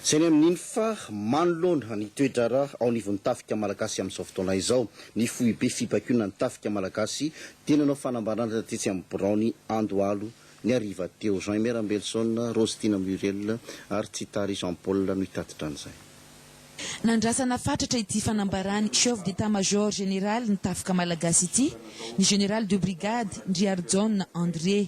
Saingy amin'iny fa manoloana ny toe-draharaha ao anivon'ny Tafika Malagasy amin'izao fotoana izao, ny Foibe Fibakionan'ny Tafika Malagasy dia nanao fanambarana tetsy amin'ny biraony Andohalo ny hariva teo. Jean Emer Ambelson, Rostina Muriel ary Tsitary Jean Paul no hitatitra an'izay. Nandrasana fatratra ity fanambaran'ny Chef d'Etat-Major Général ny Tafika Malagasy ity, ny Général de Brigade Ndriarijaona André.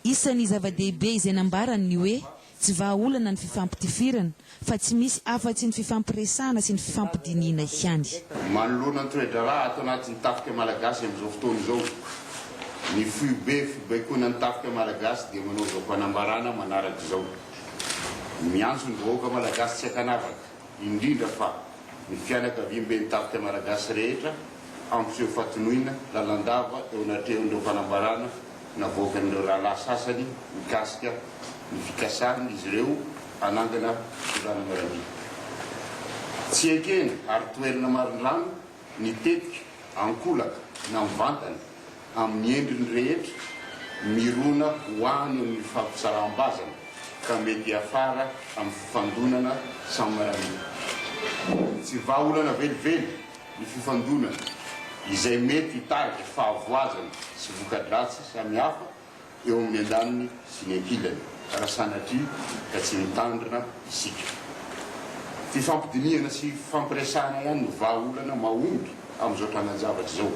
Isan'ny zava-dehibe izay nambarany ny hoe tsy vahaolana ny fifampitifirana fa tsy misy afa-tsy ny fifampiresahana sy ny fifampidinihina ihany. Manoloana ny toe-draharaha ato anatin'ny Tafika Malagasy amin'izao fotoana izao, ny foibe fibaikoana ny Tafika Malagasy dia manao izao fanambarana manaraka izao, Miantso ny vahoaka malagasy tsy an-kanavaka, indrindra fa ny fianakaviam-ben'ny Tafika Malagasy rehetra hampiseho fahatoniana lalandava eo anatrehan'ireo fanambarana, Navoakan'ireo rahalahy sasany mikasika ny fikasan'izy ireo hanangana fitondrana miaramila. Tsy ekena ary toherina marindrano ny tetika ankolaka na mivantana amin'ny endriny rehetra mirona ho any amin'ny fampitsaram-bazana ka mety hiafara amin'ny fifandonana samy miaramila. Tsy vahaolana velively ny fifandonana izay mety hitarika fahavoazana sy voka-dratsy samihafa eo amin'ny andaniny sy ny ankilany raha sanatria ka tsy mitandrina isika. Fifampidinihana sy fifampiresahana ihany no vahaolana mahomby amin'izao trangan-javatra izao,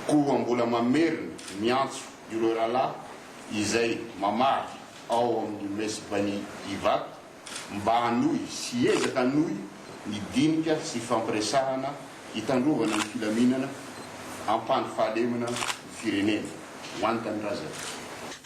koa mbola mamerina miantso ireo rahalahy izay mamaky ao amin'ny Mess Bani Ivato Mba hanohy sy hiezaka hanohy ny dinika sy fampiresahana hitandrovana ny filaminana, hampandry fahalemana ny firenena. Ho an'ny Tanindrazana.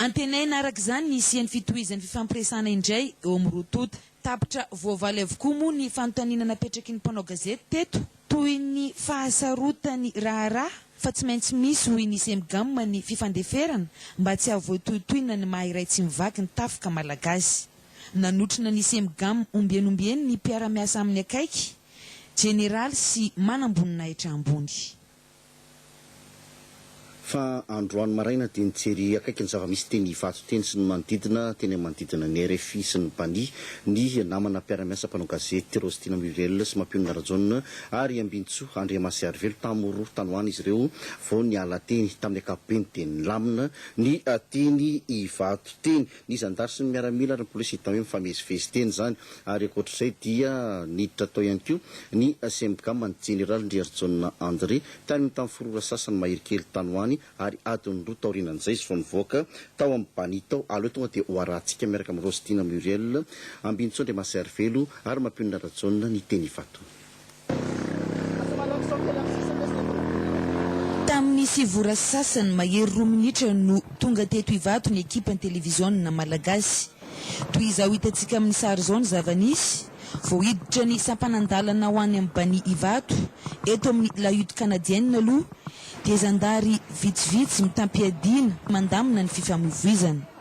Antenaina araka izany ny hisian'ny fitohizan'ny fifampiresahana indray eo amin'ny roa tonta. Tapitra voavaly avokoa moa ny fanontaniana napetraky ny mpanao gazety teto, toy ny fahasarotany raharaha fa tsy maintsy misy hoy ny Cemgam ny fifandeferana mba tsy hahavoatohitohina ny maha iray tsy mivaky ny tafika malagasy. Nanotrona ny Cemgam omby eny omby eny ny mpiara-miasa aminy akaiky, jeneraly sy manamboninahitra ambony. Fa androany maraina dia nijery akaiky ny zava-misy teny Ivato teny sy ny manodidina, teny amin'ny manodidina ny rfi sy ny Bani, ny namana mpiara-miasa mpanao gazety Rostina Muriel sy Mapionona Rajaona ary Ambinintsoa Andriamasiarivelo tamin'ny roa tany ho any izy ireo vao niala teny. Tamin'ny ankapobeny dia nilamina ny teny Ivato teny. Ny zandary sy ny miaramila ary ny polisy tamy mifamezivezy teny izany ary ankoatr'izay dia niditra tao ihany koa ny Cemgam an'ny Jeneraly Ndriarijaona André tany amin'ny tany forora sasany mahery kely tany ho any ary adiny roa taorianan'izay izy vao nivoaka tao amin'ny Bani tao aloha tonga dia hoarahantsika miaraka amin'i Rose Tina Muriel Ambinitsoa Andriamahasairivelo ary Mampionona Rajaona ny teny Ivato. Tamin'ny sivy ora sasany mahery roa minitra no tonga teto Ivato ny ekipan'ny televiziona malagasy. Toy izao hitantsika amin'ny sary izao ny zava-nisy, vao hiditra ny sampanan-dalana ho any amin'ny Bani Ivato, eto amin'ny La Hutte Canadienne aloha dia zandary vitsivitsy mitam-piadiana mandamina ny fifamoivoizana.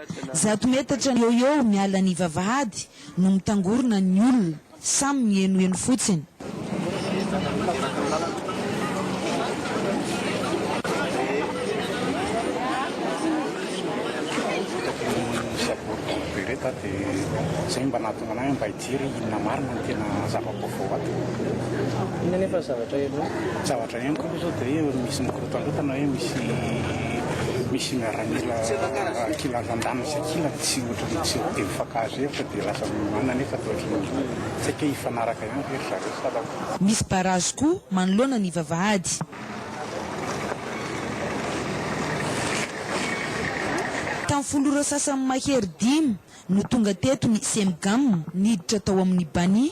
Zato metatra eo eo miala ny vavahady no mitangorona ny olona samy mihenoheno fotsiny. Jery inona marina no tena zava-baovao ato. Inona anefa ny zavatra henoko? Ny zavatra henoko aloha izao dia hoe misy mikorotandrotana hoe misy misy miaramila kilan-dran-daniny sy ankilany tsy ohatran'ny tsy dia mifankahazo hevitra dia lasa miomana nefa dia ohatran'ny hoe tsy hay hoe hifanaraka ihany ve ry zareo sa raha Misy barazy koa manoloana ny vavahady. Tamin'ny folo ora sasany mahery dimy, no tonga teto ny Cemgam niditra tao amin'ny Bani.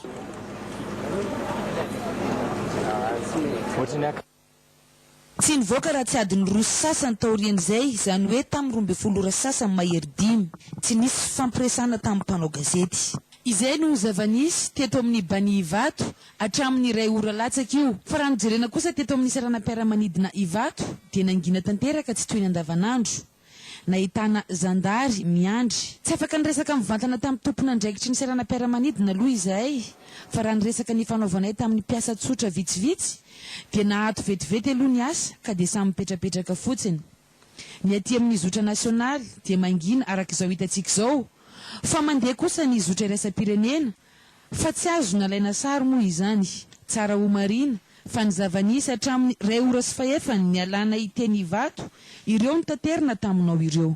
Tsy nivoaka raha tsy adiny roa sy sasany taorian'izay, izany hoe tamin'ny roa ambin'ny folo ora sy sasany mahery dimy. Tsy nisy fifampiresahana tamin'ny mpanao gazety. Izay no zava-nisy teto amin'ny Bani Ivato hatramin'ny iray ora latsaka io. Fa raha nojerena kosa teto amin'ny seranam-piaramanidina Ivato dia nangina tanteraka tsy toy ny andavanandro. Nahitana zandary miandry. Tsy afaka niresaka mivantana tamin'ny tompon'andraikitry ny seranam-piaramanidina aloha izahay fa raha ny resaka nifanaovanay tamin'ny mpiasa tsotra vitsivitsy dia naato vetivety aloha ny asa ka dia samy mipetrapetraka fotsiny. Ny aty amin'ny zotra nasionaly dia mangina araka izao hitantsika izao fa mandeha kosa ny zotra iraisam-pirenena Fa tsy azo nalaina sary moa izany. Tsara homarihina fa ny zava-nisy hatramin'ny iray ora sy fahefany nialana hiteny Ivato ireo no taterina taminao ireo.